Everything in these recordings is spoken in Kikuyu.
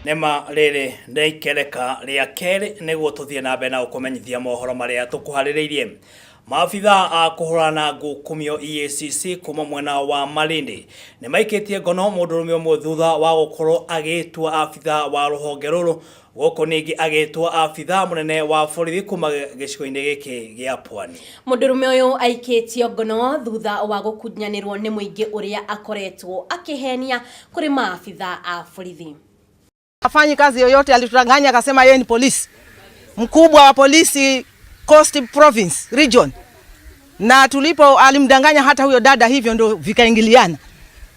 nĩma rĩrĩ nĩ ikereka rĩa kerĩ nĩguo tũthiĩ na mbere na gũkũmenyithia mohoro marĩa tũkũharĩrĩirie maabithaa a kũhũrana ngukumio EACC kuma mwena wa Malindi nĩ maikĩtie ngono mũndũrũme ũmwe thutha wa gũkorwo agĩtua abithaa wa rũhonge rũrũ Gũkũ ningĩ agĩtwo abithaa mũnene wa borithi kuma gĩcigo-inĩ gĩkĩ gĩa Pwani. Mũndũrũme ũyũ aikĩtio ngono thutha wa gũkunyanĩrwo nĩ mũingĩ ũrĩa akoretwo akĩhenia kũrĩ maabithaa a borithi. Hafanyi kazi yoyote, alitudanganya akasema yeye ni polisi mkubwa wa polisi Coast Province Region, na tulipo alimdanganya hata huyo dada, hivyo ndio vikaingiliana.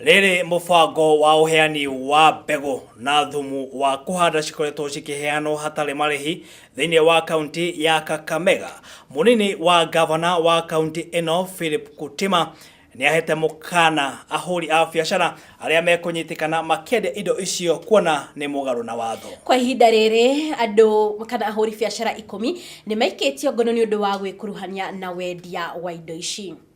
Rĩrĩ mũbango wa ũheani wa mbegũ na thumu wa kũhanda cikoretwo cikĩheanwo hatarĩ marĩhi thĩinĩ wa kaunti ya Kakamega. Mũnini wa gavana wa kaunti ĩno Philip Kutima nĩahete mũkana ahũri a biacara arĩa mekũnyitĩkana makĩendia indo icio kuona nĩ mũgarũ na watho. Kwa ihinda rĩrĩ andũ kana ahũri biacara ikũmi nĩmaikĩtio ngono nĩ ũndũ wa gwĩkuruhania na wendia wa indo ici.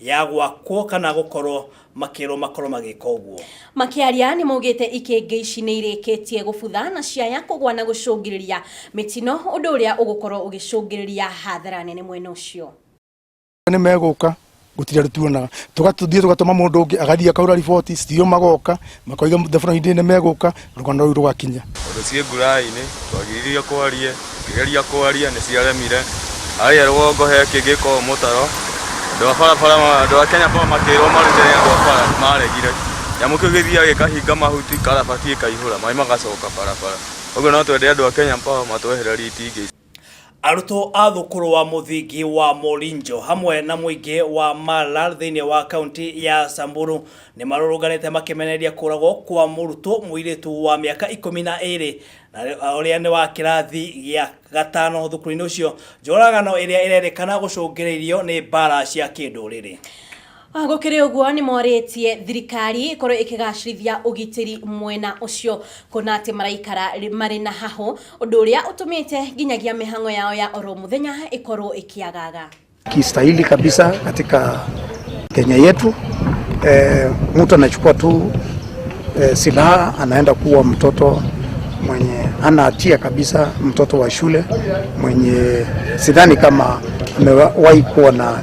Ya gwakwo kana gũkorwo makĩrwo makorwo magĩka ũguo. Makĩaria nĩmaugĩte ikĩngĩ ici nĩirĩkĩtie gũbutha na ciaya kũgwa na gũcũngĩrĩria mĩtino ũndũ ũrĩa ũgũkorwo ũgĩcũngĩrĩria hathara nene mwena ũcio. Nĩmegũka gũtire tũtuonaga tũgathiĩ tũgatũma mũndũ ũngĩ agathiĩ akahũra riboti, CTO magoka makoiga thabura hĩndĩ nĩ megũka rũgano rũu rũgakinya Ũndũ ciĩ ngurainĩ twagiririe kwarie Ngĩgeria kwaria nĩ ciaremire Harĩa rũgongo he kĩngĩ ko mũtaro Andũ a barabara andũ a Kenya Power makĩrwo marute nĩ andũ a bara maregire Nyamũ kĩu gĩthiaga gĩkahinga mahuti karabati ĩkaihũra maĩ magacoka barabara Ũguo no twende andũ a Kenya Power matwehererie itingĩ icio. Arutwo a thukuru wa mũthingi wa Morinjo hamwe na mũingĩ wa Mala thĩinĩ wa kaunti ya Samburu nĩ marũrũnganĩte makĩmenereria kũragwo kwa mũrutwo mũirĩtu wa mĩaka ikũmi na ĩrĩ ũrĩa nĩ wa kĩrathi gĩa gatano thukuru-inĩ ũcio, njũragano ĩrĩa ĩrerĩkana gũcũngĩrĩirio nĩ mbara cia kĩndũrĩrĩ. Ona gũkĩrĩ ũguo nĩmorĩtie thirikari ĩkorwo ĩkĩgacĩrithia ũgitĩri mwena ũcio kuona atĩ maraikara marĩ na hahũ ũndũ ũrĩa ũtũmĩte nginyagia mĩhang'o yao ya oro mũthenya ĩkorwo ĩkĩagaga. kistahili kabisa katika Kenya yetu. E, mtu anachukua tu e, silaha anaenda kuwa mtoto mwenye hana hatia kabisa, mtoto wa shule mwenye sidhani kama amewahi kuwa na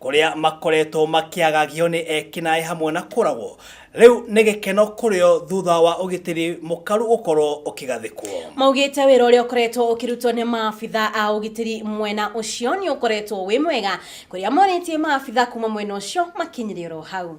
kũrĩa makoretwo makĩagagio nĩ ekinaĩ hamwe na kũragwo rĩu nĩ gĩkeno kũrĩo thutha wa ũgitĩri mũkaru gũkorwo ũkĩgathĩkwo maugĩte wĩra ũrĩa ũkoretwo ũkĩrutwo nĩ maabitha a ũgitĩri mwena ũcio nĩ ũkoretwo wĩ mwega kũrĩa morĩtie maabitha kuma mwena ũcio makinyĩre oro hau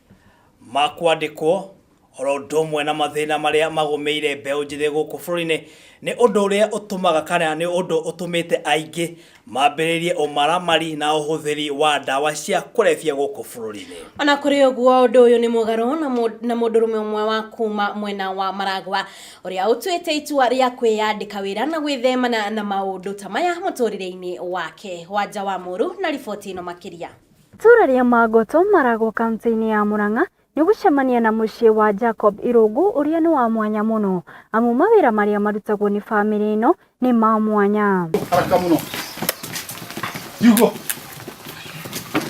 ma kwandĩkwo oro ũndũ ũmwe na mathĩna marĩa magũmĩire mbeũ njĩthĩ gũkũ bũrũri-inĩ nĩ ũndũ ũrĩa ũtũmaga kana nĩ ũndũ ũtũmĩte aingĩ mambĩrĩrie ũmaramari na ũhũthĩri wa ndawa cia kũrebia gũkũ bũrũri-inĩ. Ona kũrĩ ũguo ũndũ ũyũ nĩ mũgarũ na mũndũrũme ũmwe wa kuma mwena wa Maragwa ũrĩa ũtuĩte itua rĩa kwĩyandĩka wĩra na gwĩthemana na maũndũ ta maya mũtũrĩre-inĩ wake. Wanja wa Mũru na riboti ĩno makĩria. Itũra rĩa Mangoto Marago kaunti-inĩ ya Murang'a nĩ gũcemania na mũciĩ wa Jacob Irungu ũrĩa nĩ wa mwanya mũno amu mawĩra marĩa marutagwo nĩ famĩlĩ ĩno nĩ ma mwanya.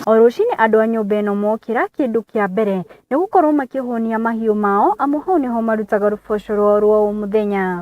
O rũcinĩ andũ a nyũmba ĩno mokĩra kĩndũ kĩa mbere nĩ gũkorwo makĩhũnia mahiũ mao amu hau nĩho marutaga rũboco rwao rwa o mũthenya.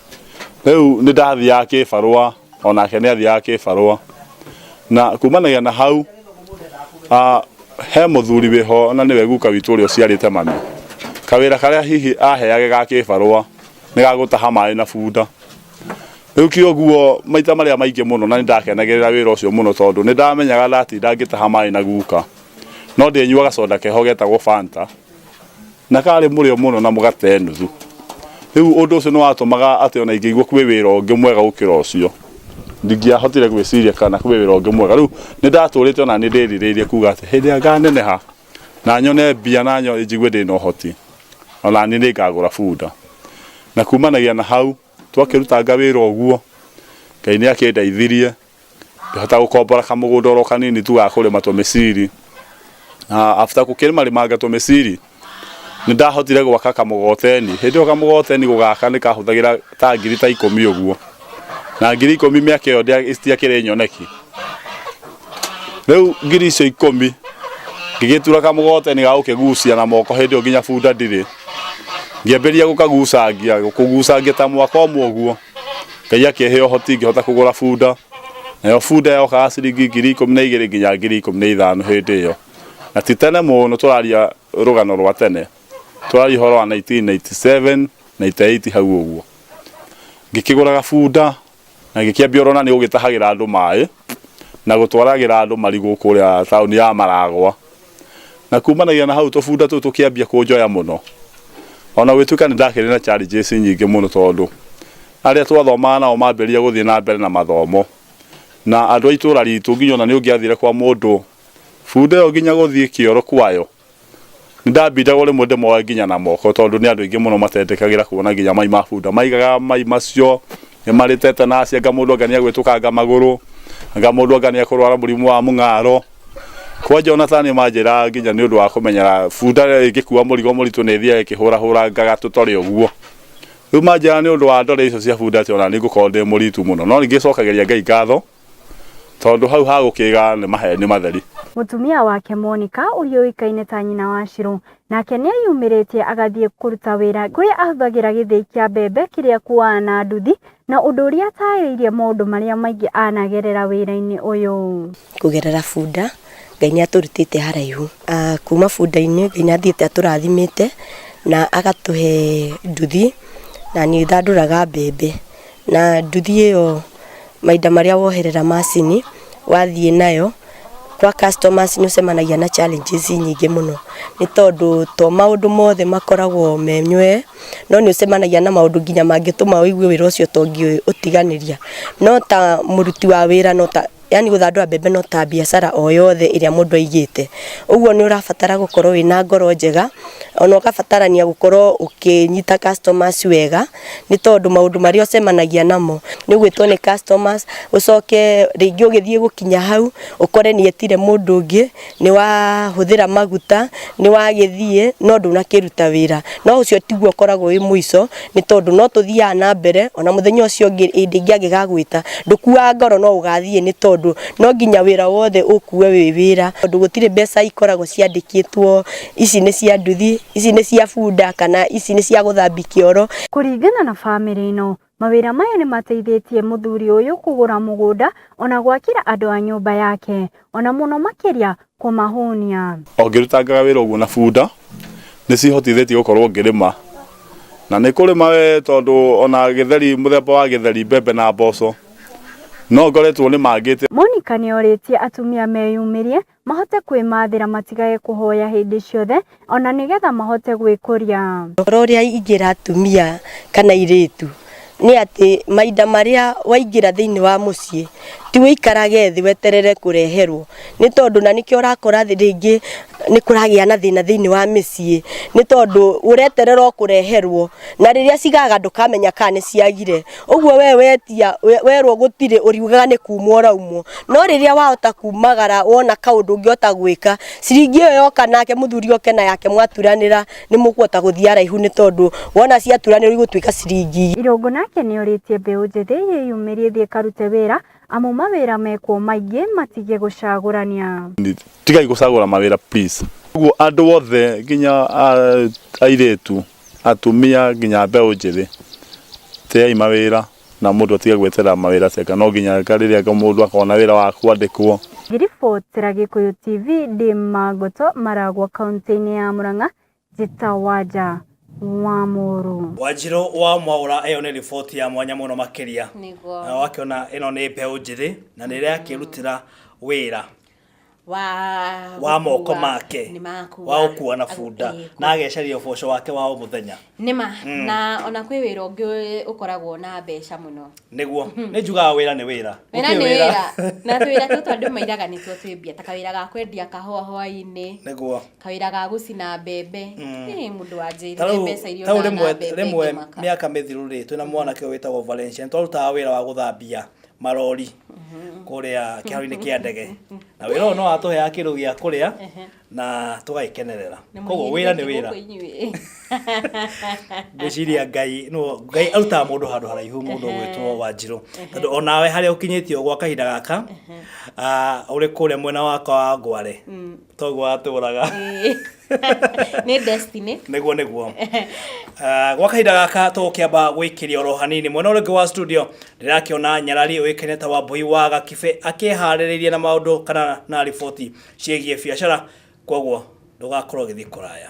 Rĩu nĩ ndathiaga kĩbarũa, o nake nĩ athiaga kĩbarũa. Na kumanagia na hau, ah, he mũthuri wĩho na nĩwe guka witũ ũrĩa ũciarĩte mami. Kawĩra karĩa hihi aheage ga kĩbarũa, nĩ ga gũtaha maĩ na bunda. Rĩu kĩoguo maita marĩa maingĩ mũno na nĩ ndakenagĩrĩra wĩra ũcio mũno tondũ nĩ ndamenyaga ndatinda ngĩtaha maĩ na guka, no ndĩnyuaga soda keho getagwo Fanta. na karĩ mũrĩo mũno na mũgate nuthu. Rĩu ũndũ ũcio nĩ watũmaga atĩ ona ingĩigua kwĩ wĩra ũngĩ mwega gũkĩra ũcio. Ndingĩahotire gwĩciria kana kwĩ wĩra ũngĩ mwega. Rĩu nĩ ndatũrĩte ona nĩ ndĩrirĩirie kuga atĩ hĩndĩ ĩrĩa nganeneha na nyone mbia na njigue ndĩ na ũhoti, ona niĩ nĩ ngagũra bunda. Na kumanagia na hau Twakĩrutanga wĩra ũguo, Ngai nĩ akĩndeithirie ngĩhota gũkombora kamũgũnda oro kanini tu ga kũrĩma tũmĩciri. Na after gũkĩrĩma rĩmanga tũmĩciri, nĩ ndahotire gwaka kamũgoteni. Hĩndĩ ĩyo kamũgoteni gũgaka nĩ kahũthagĩra ta ngiri ta ikũmi ũguo. Na ngiri ikũmi mĩaka ĩyo citiakĩrĩ nyoneki. rĩu ngiri icio ikũmi ngĩgĩtura kamũgoteni ga gũkĩgucia na moko hĩndĩ ĩyo nginya bunda ndirĩ ngĩambĩrĩria gũkagucangia kũgucangia ta mwaka ũmwe ũguo ngai akĩhe ũhoti ngĩhota kũgũra bunda nayo bunda yokaga ciringi ngiri ikũmi na igĩrĩ nginya ngiri ikũmi na ithano hĩndĩ ĩyo na ti tene mũno tũraria rũgano rwa tene tũraria ũhoro wa 1997 98 hau ũguo ngĩkĩgũraga bunda Na gĩkĩambia ũrona nĩ gũgĩtahagĩra andũ maĩ, na gũtwaragĩra andũ marigũ kũrĩa taũni ya Maragwa. Na kumanagia na hau tũbunda tũu tũkĩambia kũnjoya mũno. Ona gũgĩtuĩka nĩ ndakĩrĩ na challenges nyingĩ mũno tondũ, arĩa twathomaga nao mambĩrĩria gũthiĩ na mbere na mathomo. Na andũ a itũũra ritũ nginya ona nĩ ũngĩathire kwa mũndũ, bunda ĩyo nginya gũthiĩ kĩoro kwayo, Nĩndambindagwo rĩmwe ndĩmoe nginya na moko tondũ nĩ andũ aingĩ mũno matetĩkagĩra kuona nginya mai ma bunda. Maigaga mai macio marĩ tetanus, anga mũndũ anga nĩegwĩtũkanga magũrũ, anga mũndũ anga nĩekũrwara mũrimũ wa mũng'aro. Kwanja ona taniĩ manjĩraga nginya nĩũndũ wa kũmenyera bunda ĩngĩkua mũrigo mũritũ nĩĩthiaga ĩkĩhũrahũrangaga tũtorĩ ũguo. Rĩu manjĩraga nĩũndũ wa ndore icio cia bunda atĩ ona niĩ ngũkorwo ndĩ mũritu mũno. No ningĩ nĩcokagĩria Ngai ngatho. tondũ hau ha gũkĩga nĩ maheni matheri. Mũtumia wake Monika ũrĩa ũĩkaine ta nyina wa Shirũ, nake nĩ eyumĩrĩtie agathiĩ kũruta wĩra kũrĩa ahũthagĩra gĩthĩi kĩa mbembe kĩrĩa akuaga na nduthi, na ũndũ ũrĩa ataarĩirie maũndũ marĩa maingĩ anagerera wĩra-inĩ ũyũ. Kũgerera bunda, Ngai nĩ atũrutĩte haraihu. Ah, kuma bunda-inĩ, Ngai nĩ athiĩte atũrathimĩte na agatũhe nduthi na nĩ thandũraga mbembe. na nduthi ĩyo mahinda marĩa woherera macini wathiĩ nayo kwa customers nĩ ũcemanagia na challenges nyingĩ mũno nĩ tondũ to maũndũ mothe makoragwo menywee no nĩ ũcemanagia na maũndũ nginya mangĩtũma ũigue wĩra ũcio to ũngĩũtiganĩria no ta mũruti wa wĩra no ta yani gũthandũra mbembe no ta biacara o yothe ĩrĩa mũndũ aigĩte ũguo nĩ ũrabatara gũkorwo wĩna ngoro njega ona ũgabatarania gũkorwo ũkĩnyita customers wega nĩ tondũ maũndũ marĩa ũcemanagia namo nĩ ũgwĩtwo nĩ customers ũcoke rĩngĩ ũgĩthiĩ gũkinya hau ũkore nĩ etire mũndũ ũngĩ nĩ wahũthĩra maguta nĩ wagĩthiĩ no ndũnakĩruta wĩra no ũcio tiguo ũkoragwo wĩ mũico nĩ tondũ no tũthiaga na mbere ona mũthenya ũcio ũngĩ hĩndĩ ĩngĩ angĩgagwĩta ndũkuaga ngoro no ũgathiĩ nĩ tondũ no nginya wĩra wothe ũkue wĩ wĩra tondũ gũtirĩ mbeca ikoragwo ciandĩkĩtwo ici nĩ cia nduthi ici nĩ cia bunda kana ici nĩ cia gũthambia kĩoro. Kũringana na famĩlĩ ĩno, Mawĩra maya nĩ mateithĩtie mũthuri ũyũ kũgũra mũgũnda ona gwakĩra andũ a nyũmba yake, ona mũno makĩria kũmahũnia. O ngĩrutangaga wĩra ũguo na bunda, nĩ ciĩhotithĩtie gũkorwo ngĩrĩma. Na nĩ kũrĩma we tondũ ona gĩtheri, mũthemba wa gĩtheri, mbembe na mboco, no ngoretwo nĩmangĩte. Monika nĩ orĩtie atumia meyumĩrie mahote kwĩmathĩra matigage kũhoya hĩndĩ ciothe o na nĩgetha mahote gwĩkũria. Ũhoro ũrĩa ingĩra atumia kana airĩtu nĩ atĩ mahinda marĩa waingĩra thĩinĩ wa mũciĩ ti ũikarage thĩ weterere kũreherwo nĩ tondũ na nĩkĩo ũrakora rĩngĩ nĩ kũragĩa na thĩna thĩinĩ wa mĩciĩ nĩ tondũ ũreterera o kũreherwo na rĩrĩa cigaga ndũkamenya kana nĩ ciagire. ũguo we wetia we- werwo gũtirĩ ũriugaga nĩ kumwo ũraumwo no rĩrĩa wahota kumagara wona kaũndũ ũngĩhota gwĩka ciringi ĩyo yoka nake mũthuri oke na yake mwaturanĩra nĩ mũkũhota gũthiĩ araihu nĩ tondũ wona ciaturanĩrwo igũtuĩka ciringi Irũngũ nake nĩ orĩtie mbeũ njĩthĩ yĩyumĩrie ĩthiĩ ĩkarute wĩra Amu mawĩra mekwo maingĩ matige gũcagũrania. Tigai gũcagũra mawĩra please. Ũguo andũ othe nginya airĩtu, atumia nginya mbeũ njĩthĩ teai mawĩra na mũndũ atige gweterera mawĩra ceka no nginya rĩrĩa mũndũ akona wĩra wa kwandĩkwo. Ngiribotera Gĩkũyũ TV ndĩ Mangoto Maragwa kauntĩ-inĩ ya Mũrang'a Njĩta wa nja wa mũrũ. Wanjirũ wa Mwaũra ĩyo nĩ riboti ya mwanya mũno makĩria. Nĩguo. Na wakĩona ĩno nĩ mbeũ njĩthĩ na nĩ ĩrakĩrutĩra wĩra wa wa moko gũkua- make nĩ makua. wa gũkua na bunda Ĩĩ, na ageceria ũboco wake wa o mũthenya nĩma na ona kwĩ wĩra ũngĩ ũkoragwo na mbeca mũno nĩguo nĩ njugaga wĩra nĩ wĩra wĩra Gũtirĩ nĩ wĩra na twĩra tũtũ andũ mairaga nĩtuo twĩ mbia ta kawĩra ga kwendia kahũa hwainĩ nĩguo kawira ga gucina mbembe mm. eh, mundu anjirire mbeca iria ona na mbembe rimwe miaka mithiru ri twina mwanake witagwo Valencia twarutaga wira wa guthambia marori mm-hmm. kuria kiharo-ini kia ndege na wira uyu no atuheaga kindu gia kuria mm-hmm. na tugagikenerera koguo wira ni wira ngwiciria ngai no ngai arutaga mundu handu haraihu mundu gwitwo wanjiru tondu onawe haria ukinyitio gwa kahinda gaka uri kuria mwena wakwa wa ngware mm. toguo atũraga nä destiny nĩguo nĩguo Ah, gwa kahinda gaka tũgũkĩamba gwĩkĩria oro hanini mwena ũrĩa ũngĩ wa studio ndĩrakĩona nyarari ũĩkaine ta wambui wa gakibĩ akĩharĩrĩirie na maũndũ kana na riboti ciĩgiĩ biacara kwoguo ndũgakorwo ũgĩthiĩ kũraya